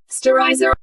Sterilizer.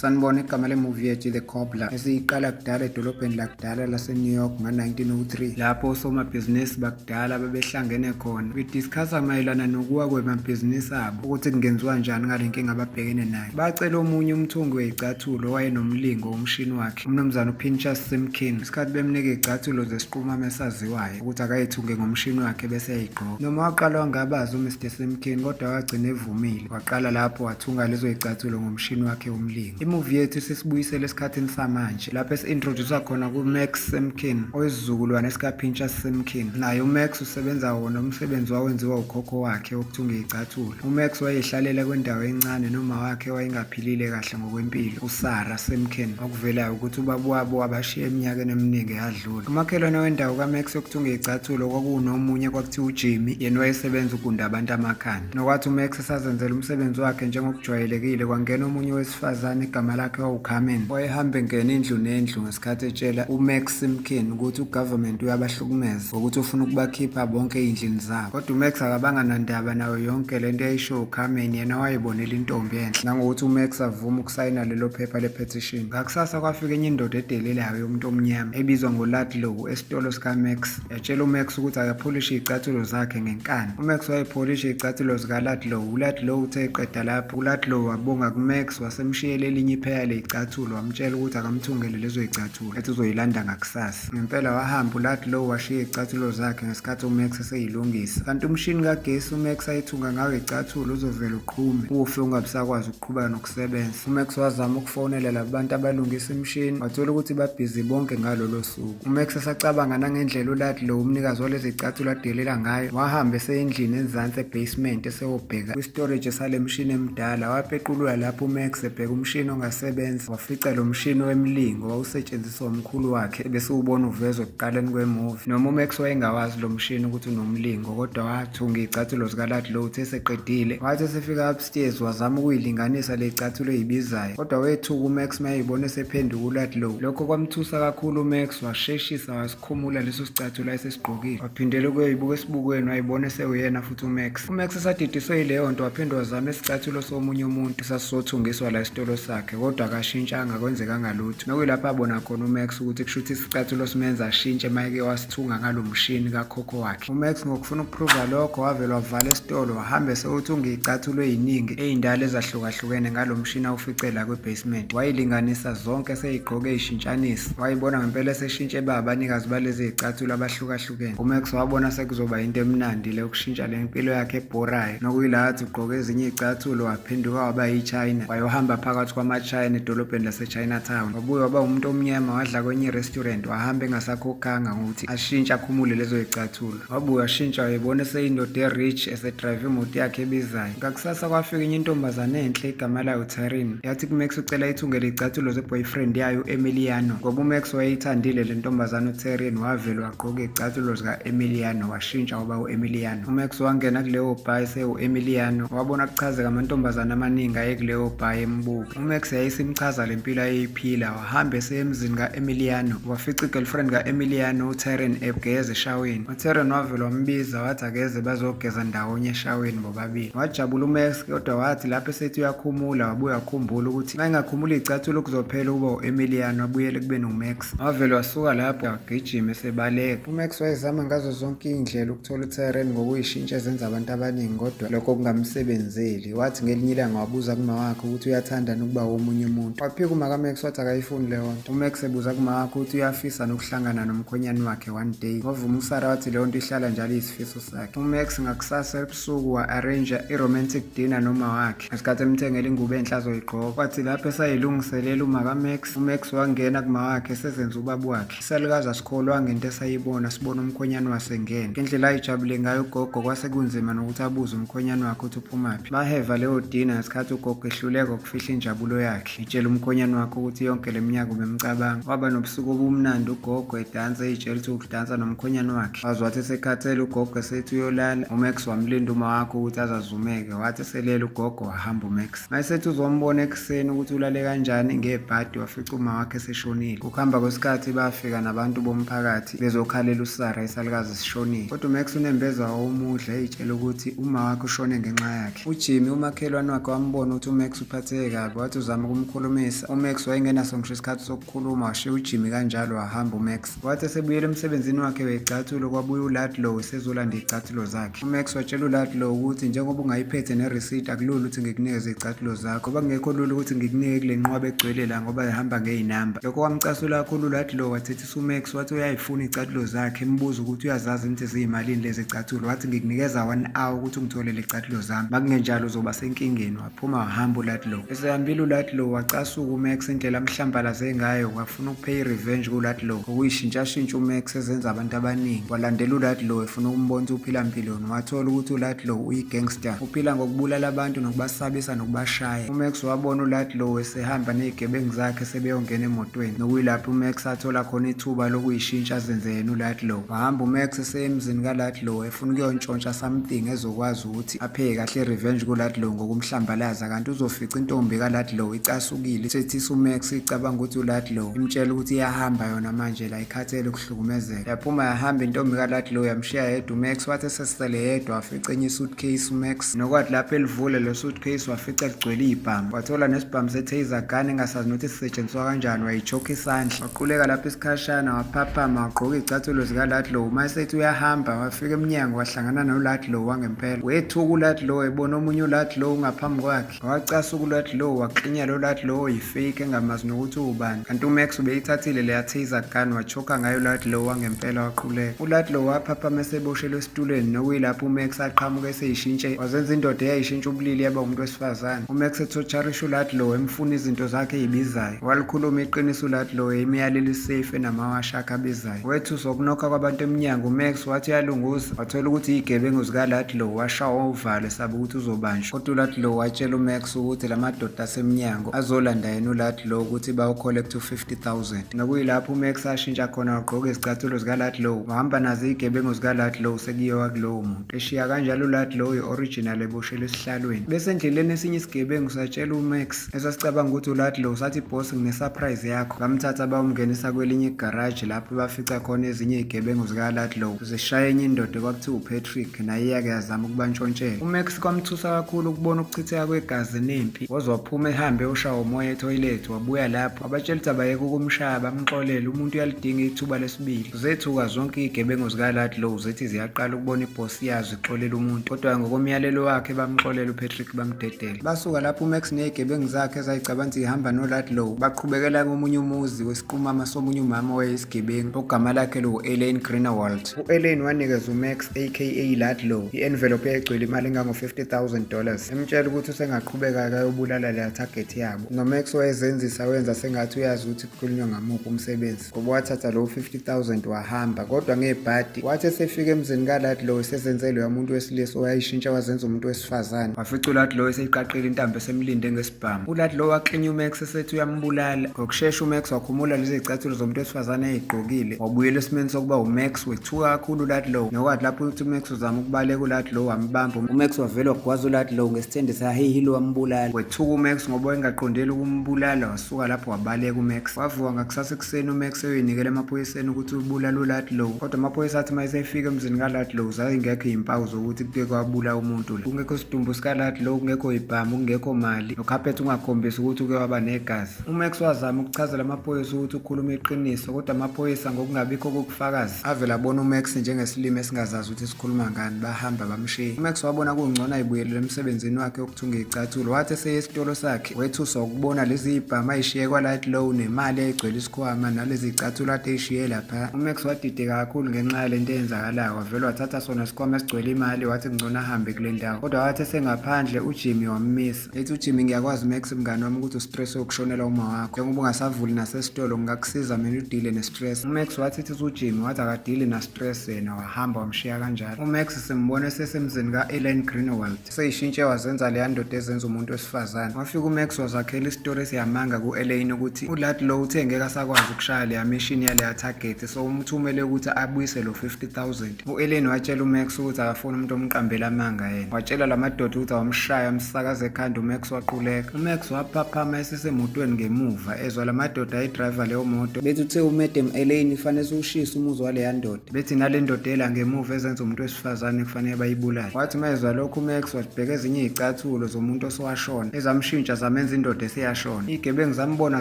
sanibona igama lemuvi yethu the cobbler esiyiqala kudala edolobheni lakudala lasenew york ngo-1903 lapho osomabhizinisi bakudala babehlangene khona bediskhasa mayelana nokuwa kwemabhizinisi abo ukuthi kungenziwa njani ngale nkinga ababhekene nayo bacela omunye umthungi weyicathulo owayenomlingo womshini wakhe umnumzane upinchas simkin isikhathi bemnika icathulo zesiqumama esaziwayo ukuthi akayithunge ngomshini wakhe bese eyigqoka noma waqala wangabaza umr simkin kodwa wagcina evumile waqala lapho wathunga lezo yicathulo ngomshini wakhe umlingo imuvi yethu sisibuyisele esikhathini samanje lapho esi-introdusa khona kumax simkin oyisizukulwane sikapinchas simkin naye umax usebenza wona umsebenzi wawenziwa ukhokho wakhe wokuthunga iyicathulo umax wayehlalela kwendawo encane noma wakhe wayengaphi Philile kahle ngokwempilo uSara Semken okuvelayo ukuthi ubaba wabo wabashiya eminyakeni eminingi eyadlula. Umakhelwane wendawo kaMax okuthiwa ungeyicathulo kwakunomunye kwakuthiwa uJimmy yena wayesebenza ugunda abantu amakhanda. Nokwathi uMax esazenzela umsebenzi wakhe njengokujwayelekile kwangena omunye wesifazane igama lakhe wawuCarmen wayehamba engena indlu nendlu Khathi etshela uMax Simkin ukuthi ugovernment uyabahlukumeza ngokuthi ufuna ukubakhipha bonke ey'ndlini zabo kodwa uMax akabanga nandaba nayo yonke le nto eyayisho uCarmen yena wayebonela intombi enhle nangokuthi uMax avuma ukusayina lelo phepha le-petition ngakusasa kwafika enye indoda edelelayo yomuntu omnyama ebizwa ngoLadlow esitolo sikaMax Yatshela uMax ukuthi akapholishe izicathulo zakhe ngenkani. UMax wayepholishe izicathulo zikaLadlow. ULadlow uthe eqeda lapho, uLadlow wabonga kuMax wasemshiyela elinye ipheya lezicathulo wamtshela ukuthi akamthungele lezo zicathulo ethi uzoyilanda ngakusasa. Ngempela wahamba uLadlow washiya izicathulo zakhe ngesikhathi uMax eseyilungisa. Kanti umshini kagesi uMax ayithunga ngawo izicathulo uzovele uqhume ufe ungabisakwazi ukuqhubeka nokusebenza. UMax wazama ukufonela laba bantu abalungisa imishini wathola ukuthi babhizi bonke ngalolo ebusuku. UMax esacabanga nangendlela uLadlow umnikazi walezicathulo adelela ngayo, wahamba eseyendlini enzansi ebasement eseyobheka kwistorage salemshini emdala. Wapequlula lapho uMax ebheka umshini ongasebenzi, wafica lo mshini wemlingo wawusetshenziswa umkhulu wakhe ebesiwubona uvezwa ekuqaleni kwemovie. Noma uMax wayengawazi lo mshini ukuthi unomlingo, kodwa wathunga izicathulo zikaLadlow uthe eseqedile, wathi esefika Steers wazama ukuyilinganisa le cathulo eyibizayo kodwa wethuka uMax mayeyibona esephenduka ulat low. Lokho kwamthusa kakhulu uMax washeshisa wasikhumula leso sicathulo ayesesigqokile. Waphindela ukuyoyibuka esibukweni wayibona esewuyena futhi uMax. UMax esadidiswe yileyo nto waphinde wazama isicathulo somunye umuntu esasizothungiswa la esitolo sakhe kodwa akashintshanga kwenzekanga lutho. Nokuyilapho abona khona uMax ukuthi kushuthi isicathulo simenza ashintshe mayeke wasithunga ngalo mshini kakhokho wakhe. uMax ngokufuna ukuphruva lokho wavele wavala esitolo wahambe sewuthi ungiyicathulwe yiningi ey'ndala ezahlukahlukene ngalo mshini awufice la kwi-basement wayilinganisa zonke seyigqoke ishintshanisa wayibona ngempela eseshintshe ba abanikazi balezi y'cathulo abahlukahlukene umax wabona sekuzoba yinto emnandi le ukushintsha le mpilo yakhe ebhorayo nokuyila athi ugqoke ezinye iy'cathulo waphenduka waba yichina wayohamba phakathi kwamachina edolobheni lasechina town wabuye waba umuntu omnyama wadla kwenye irestaurant wahamba engasakhokhanga ngokuthi ashintsha akhumule lezo yicathulo wabuya ashintsha wayebona eseyindoda e-rich esedrayive imoto yakhe ebizayo ngakusasa kwafika enye intombazane enhle igama layo tarin yathi kumax ucela ithungele iy'cathulo ze-boyfriend yayo u-emiliano ngoba umax wayeyithandile le ntombazane utarin wavele wagqoka iy'cathulo zika-emiliano washintsha waba u-emiliano umax wangena kuleyo bhayi sewu-emiliano wabona kuchazeka amantombazane amaningi ayekuleyo bhayi embuka umax yayisimchaza le mpilo ayeyiphila Wahambe eseya emzini ka-Emiliano, wafica i-girlfriend ka-Emiliano uTeren egeza eshaweni. UTeren wavele wambiza wathi akeze bazogeza ndawonye eshaweni bobabili. Wajabula uMax kodwa wathi lapho esethi uyakhumula wabuye wakhumbula ukuthi uma engakhumula iy'cathulo kuzophela ukuba u-Emiliano abuyele ekubeni uMax. Wavele wasuka lapho wagijima esebaleka. UMax wayezama ngazo zonke iy'ndlela ukuthola uTeren ngokuyishintsha ezenza abantu abaningi kodwa lokho kungamsebenzeli. Wathi ngelinye ilanga wabuza kuma wakhe ukuthi uyathanda nokuba womunye umuntu. Waphika umakaMax wathi akayifuni leyo nto. UMax ebuza kuma wakhe ukuthi uyafisa nokuhlangana nomkhwenyane wakhe one day. Wavuma uSara wathi leyo nto ihlala njalo iyisifiso sakhe. UMax ngakusasa ebusuku wa-arranger i-romantic dinner noma wakhe. Ngesikhathi emthengela ingubo enhle azoyigqoka. Wathi lapho esayilungiselela umakaMax, uMax wangena kuma wakhe esezenza ubaba wakhe. Isalukazi asikholwa ngento esayibona sibona umkhwenyane wasengena ngendlela ayijabule ngayo ugogo kwase kunzima nokuthi abuze umkhwenyane wakhe ukuthi uphumaphi baheva leyo dina ngesikhathi ugogo ehluleka ukufihla injabulo yakhe itshela umkhwenyane wakhe ukuthi yonke le minyaka ubemcabanga waba nobusuku obumnandi ugogo edansa eyitshela ukuthi ukudansa nomkhwenyane wakhe waze wathi esekhathele ugogo esethi uyolala umax wamlinda uma wakho ukuthi azazumeke wathi eselele ugogo wahamba umax Mayesethi uzombona ekuseni ukuthi ulale kanjani ngebhadi wafica uma wakhe seshonile. Ukuhamba kwesikhathi bafika nabantu bomphakathi bezokhalela uSara isalukazi sishonile. Kodwa uMax unembeza wawumudla eyitshela ukuthi uma wakhe ushone ngenxa yakhe. UJimmy umakhelwane wakhe wambona ukuthi uMax uphatheke kabi wathi uzama ukumkhulumisa. UMax wayengenaso ngisho isikhathi sokukhuluma washiya uJimmy kanjalo wahamba uMax. Wathi esebuyela emsebenzini wakhe weyicathulo kwabuya uLadlow esezolanda iy'cathulo zakhe. UMax watshela uLadlow ukuthi njengoba ungayiphethe nerisidi akulula ukuthi ngikunikeze iy'cathulo zakho ngoba kungekho lula ukuthi ngikunike kule nqwaba egcwele la ngoba ihamba ngey'namba. Lokho kwamcasula kakhulu uLadlow wathethisa uMax wathi uyayifuna iy'cathulo zakhe embuza ukuthi uyazazi yini ukuthi ziyimalini lezi y'cathulo wathi ngikunikeza one hour ukuthi ungitholele iy'cathulo zami makungenjalo uzoba senkingeni wapha. Phuma hamba uLadlow. Esehambile uLadlow wacasuka uMax indlela amhlambalaze ngayo wafuna ukupheya i-revenge kuLadlow okuyishintshashintsha uMax ezenza abantu abaningi. Walandela uLadlow efuna ukumbonisa uphila mpilweni wathola ukuthi uLadlow uyi-gangster. Uphila ngokubulala abantu nokubasabisa nokubashaya. UMax wabona uLadlow esehamba nezigebengu zakhe sebeyongena emotweni nokuyilapho uMax athola khona ithuba lokuyishintsha azenze yena uLadlow. Wahamba uMax eseyemzini kaLadlow efuna ukuyontshontsha something ezokwazi ukuthi Aphe kahle revenge kuLadlow ngokumhlambalaza kanti uzofica intombi kaLadlow icasukile isethisa uMax icabanga ukuthi uLadlow imtshela ukuthi iyahamba yona manje la ikhathele ukuhlukumezeka yaphuma yahamba intombi kaLadlow yamshiya yedwa uMax wathi esesele yedwa wafica enye suitcase uMax nokwathi lapho elivule lo suitcase wafica ligcwele ibhamu wathola nesibhamu setaser gun engasazi nokuthi sisetshenziswa kanjani wayichoka isandla Quleka lapho isikhashana waphaphama wagqoka izicathulo zikaLadlow uma esethi uyahamba wafika emnyango wahlangana noLadlow wangempela wethuka uLadlow ebona omunye uLadlow ngaphambi kwakhe wacasuka uLadlow waklinya lo Ladlow oyifake engamazi nokuthi uwubani kanti uMax ubeyithathile leya taser gun wachoka ngayo uLadlow wangempela waquleka uLadlow waphaphama eseboshelwe esitulweni nokuyilapho uMax aqhamuka eseyishintshe wazenza indoda eyayishintsha ubulili yaba umuntu wesifazane uMax ethotsharisha uLadlow emfuna izinto zakhe eyibizayo Walikhuluma iqiniso ulathi loyo imiyalelo isafe enamawasha akhe abizayo. Wethusa ukunokha kwabantu emnyango uMax wathi uyalunguza wathola ukuthi iyigebengu zikalathi lowo washawa uvalo esaba ukuthi uzobanjwa. Kodwa ulathi lowo watshela uMax ukuthi la madoda asemnyango azolanda yena ulathi lowo ukuthi bawucollect u-50000 nokuyilapho uMax ashintsha khona wagqoka izicathulo zikalathi lowo wahamba nazo iyigebengu zikalathi lowo sekuyiwa kulowo muntu. Eshiya kanjalo ulathi lowo i-original eboshelwe esihlalweni. Bese endleleni esinye isigebengu satshela uMax esasicabanga ukuthi uladlow sathi boss ngine-surprise yakho bamthatha bawumngenisa kwelinye igaraji lapho bafica khona ezinye izigebengu zikaladlow zishaya enye indoda kwakuthiwa upatrick naye iyake yazama ukubantshontshela umax kwamthusa kakhulu ukubona ukuchitheka kwegazi nempi woze waphuma ehambe ushawa umoya ethoyilethi wabuya lapho abatshela ukuthi abayeke ukumshaya bamxolele umuntu uyalidinga ithuba lesibili zethuka zonke izigebengu zikaladlow zithi ziyaqala ukubona ibhosi yazo ixolela umuntu kodwa ngokomyalelo wakhe bamxolela upatrick bamdedela Basuka lapho uMax nezigebengu zakhe ezayicabanga ukuthi ihamba noLadlow baqhubekela komunye umuzi wesiqumama somunye umama wayeyisigebengu ogama lakhe liwu-Elaine Greenwald. U-Elaine wanikeza uMax aka Ladlow i-envelope egcwele imali engango-50,000 dollars emtshela ukuthi usengaqhubeka akayobulala leya target yabo. NoMax wayezenzisa wenza sengathi uyazi ukuthi kukhulunywa ngamuphi umsebenzi. ngoba wathatha lowo 50000 wahamba kodwa ngebhadi wathi esefika emzini kalati lowo esezenze loya muntu wesilisa owayishintsha wazenza umuntu wesifazane wafica ulati lowo eseyiqaqile intambo esemlinde ngesibhamu ulati lowo waklinya umax esethi uyambulala ngokushesha umax wakhumula lezi zicathulo zomuntu wesifazane ayigqokile wabuyela esimeni sokuba umax wethuka kakhulu ulati lowo nokwathi lapho ukuthi umax uzama ukubaleka ulati lowo wambamba umax wavele wagwaza ulati lowo ngesithende sahehilo wambulala wethuka umax ngoba engaqondeli ukumbulala Suka lapho wabaleka uMax. Wavuka ngakusasa ekuseni uMax eyoyinikela emaphoyiseni ukuthi ubulala uLadlow. Kodwa amaphoyisa athi uma esefika emzini kaLadlow zazingekho izimpawu zokuthi kuke kwabula umuntu la. Kungekho sidumbu sikaLadlow, kungekho ibhamu, kungekho mali, nokhaphethi ungakhombisi ukuthi uke waba negazi. UMax wazama ukuchazela amaphoyisa ukuthi ukhuluma iqiniso, kodwa amaphoyisa ngokungabikho kokufakazi avela abona uMax njengesilima esingazazi ukuthi sikhuluma ngani, bahamba bamshiya. UMax wabona kungcono ayibuyelele emsebenzini wakhe wokuthunga izicathulo, wathi eseye esitolo sakhe Wethu sokubona lezi ibhama ayishiye kwa-light low nemali egcwele isikhwama nalezi icathulo ade eyishiye lapha umax wadide kakhulu ngenxa yale nto eyenzakalayo wavele wathatha sona isikhwama esigcwele imali wathi kungcono ahambe kule ndawo kodwa wathi esengaphandle ujimmy wammisa ethi ujimmy ngiyakwazi max mngani wami ukuthi ustress wokushonela uma wakho njengoba ungasavuli nasesitolo ngingakusiza mina udile nestress umax wathi ithi ujimmy wathi akadili nastress yena wahamba wamshiya kanjalo umax simbone sesemzini ka-elen greenwald seyishintshe wazenza leya ndoda ezenza umuntu wesifazane wafika umax wazakhela isitori esiyamanga ku-elaine ukuthi ulat lo uthe ngeke asakwazi ukushaya leya mishini yaleya target so umthumele ukuthi abuyise lo 50000 u-elaine watshela umax ukuthi akafuni umuntu omqambela amanga yena watshela la madoda ukuthi awamshaya amsakaza ekhanda umax waquleka umax waphaphama esesemotweni ngemuva ezwa la madoda ayidriva leyo moto bethi uthe umadam elaine fanele siwushise umuzi waleya ndoda bethi nale ndodela ngemuva ezenza umuntu wesifazane kufanele bayibulale wathi mezwa lokhu umax wazibheka ezinye izicathulo zomuntu osowashona ezamshintsha zamenza indoda eseyashona igebengu zambona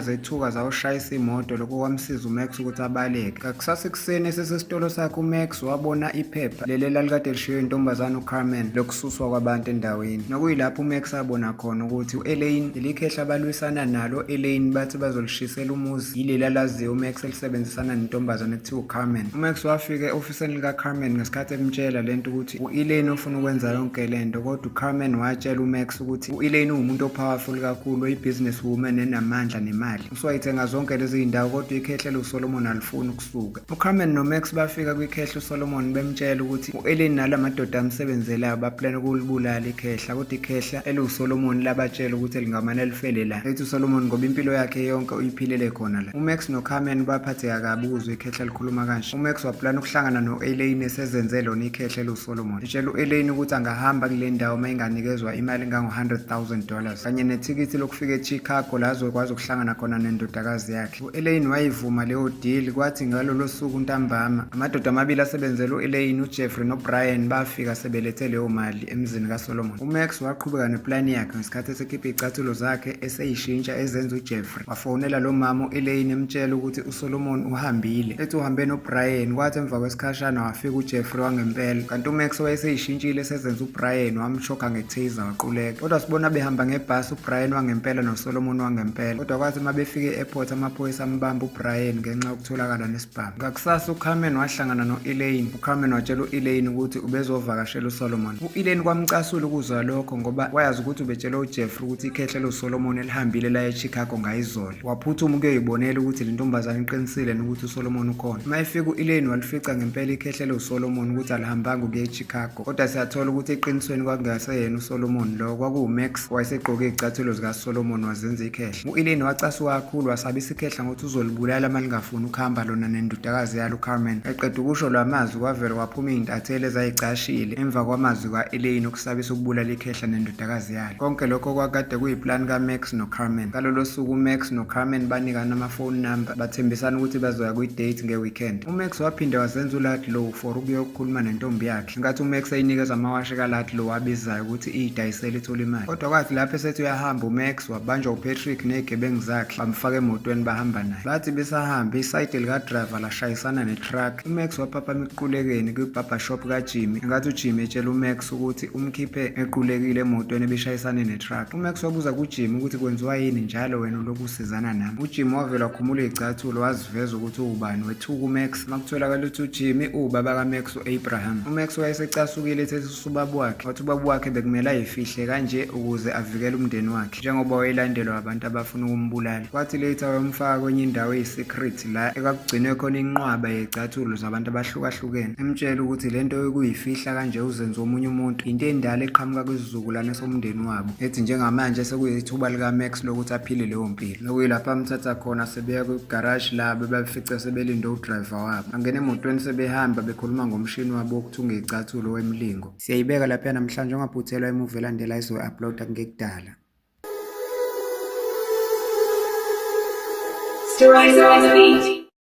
zethuka zawushayisa imoto lokho kwamsiza umax ukuthi abaleke kakusasa ekuseni esesesitolo sakhe umax wabona iphepha leli elalikade lishiyo intombazane ucarmen lokususwa kwabantu endaweni nokuyilapho umax abona khona ukuthi u-elaine lelikhehla abalwisana nalo elaine bathi bazolishisela umuzi yileli alaziyo umax sebenzisana nentombazane ekuthiwa uCarmen. UMax wafika e-ofisini likaCarmen ngesikhathi emtshela lento ukuthi u-Elaine ufuna ukwenza yonke lento kodwa uCarmen watshela uMax ukuthi u-Elaine uwumuntu opowerful kakhulu oyi-business woman enamandla nemali. Uswayithenga zonke lezi zindawo kodwa ikhehle loSolomon alifuni ukusuka. UCarmen noMax bafika kwikhehle uSolomon bemtshela ukuthi U-Eleni nala madoda amsebenzelayo baplana ukulibulala ikhehla kodwa ikhehla eliwusolomoni labatshela ukuthi lingamane lifele la ethi usolomoni ngoba impilo yakhe yonke uyiphilele khona la umax nocarmen baphatheka kabi ukuzwa ikhehla likhuluma kanje umax waplana ukuhlangana no-eleni esezenze lona ikhehla eliwusolomoni etshela u-eleni ukuthi angahamba kule ndawo uma inganikezwa imali engango-100 000 dollars kanye nethikithi lokufika echicago la azokwazi ukuhlangana khona nendodakazi yakhe U-Elaine wayivuma leyo deal kwathi ngalolo suku ntambama amadoda amabili asebenzela u-Elaine uJeffrey noBrian bafika sebelethe leyo mali emzini kaSolomon. UMax waqhubeka neplani yakhe ngesikhathi esekhipha izicathulo zakhe eseyishintsha ezenza uJeffrey. Wafonela lo mama u-Elaine emtshela ukuthi uSolomon uhambile. Ethi uhambe noBrian kwathi emva kwesikhashana wafika uJeffrey wangempela. Kanti uMax wayeseyishintshile esezenza uBrian wamshoka ngetaser waquleka. Kodwa sibona behamba ngebhasi Brian wangempela noSolomon wangempela kodwa kwathi uma befika e-airport amaphoyisa ambamba uBrian ngenxa yokutholakala nesibhamu ngakusasa uCarmen wahlangana no-Elaine uCarmen watshela u-Elaine ukuthi ubezovakashela uSolomon u-Elaine kwamcasula ukuzwa lokho ngoba wayazi ukuthi ubetshele uJeffrey ukuthi ikhehle loSolomon elihambile la eChicago ngayizolo waphuthuma ukuyoyibonela ukuthi le ntombazane iqinisile nokuthi uSolomon ukhona uma efika u-Elaine walifica ngempela ikhehle loSolomon ukuthi alihambanga ukuya eChicago Kodwa siyathola ukuthi eqinisweni kwakungaseyena uSolomon lo, kwakuwuMax owayesegqoke izicathulo zikaSolomon wazenza ikhehla. U-Elaine wacasuka kakhulu wasabisa ikhehla ngokuthi uzolibulala uma lingafuni ukuhamba lona nendodakazi yalo uCarmen. Eqeda ukusho la mazwi kwavele kwaphuma izintatheli ezayicashile emva kwamazwi ka-Elaine okusabisa ukubulala ikhehla nendodakazi yalo. Konke lokho kwakade kuyiplani kaMax noCarmen. Ngalolo suku uMax noCarmen banikana amafoni number bathembisana ukuthi bazoya kwi-date nge-weekend. UMax waphinde wazenza uLadlow for ukuyokhuluma nentombi yakhe nkathi umax eyinikeza amawashi kalati lo wabizayo ukuthi iyidayisele ithole imali kodwa kwathi lapho esethi uyahamba umax wabanjwa upatrick ney'gebengu zakhe bamfaka emotweni bahamba naye bathi besahamba isayidi likadrayiva lashayisana netruck umax waphaphama ekuqulekeni kwibhabhashop kajimmy nkathi ujimmy etshela umax ukuthi umkhiphe equlekile emotweni ebishayisane netruck umax wabuza kujimmy ukuthi kwenziwa yini njalo wena ulokusizana nami ujimmy wavele wakhumula iy'cathulo waziveza ukuthi uwubani wethuka umax Makutholakala ukuthi uJimmy uwubaba kaMax u-Abraham. UMax wayesecasukile ethethe usubaba wakhe, wathi ubaba wakhe bekumele ayifihle kanje ukuze avikele umndeni wakhe njengoba wayelandelwa abantu abafuna ukumbulala. Kwathi later wayomfaka kwenye indawo eyi-secret la ekakugcinwe khona inqwaba yey'cathulo zabantu abahlukahlukene emtshela ukuthi le nto yokuyifihla kanje uzenze omunye umuntu yinto endala eqhamuka kwisizukulwane somndeni wabo ethi njengamanje sekuyithuba likaMax lokuthi aphile leyo mpilo. nokuyilapho amthatha khona sebeya kwigaraji labo babefica sebelinde udrayiva wabo angena emotweni sebehamba bekhuluma ngomshini wabo wokuthunga icathulo wemlingo siyayibeka lapha namhlanje ungaphuthelwa imuvi elandela izoyi-uploada kungekudala Stories on the beat.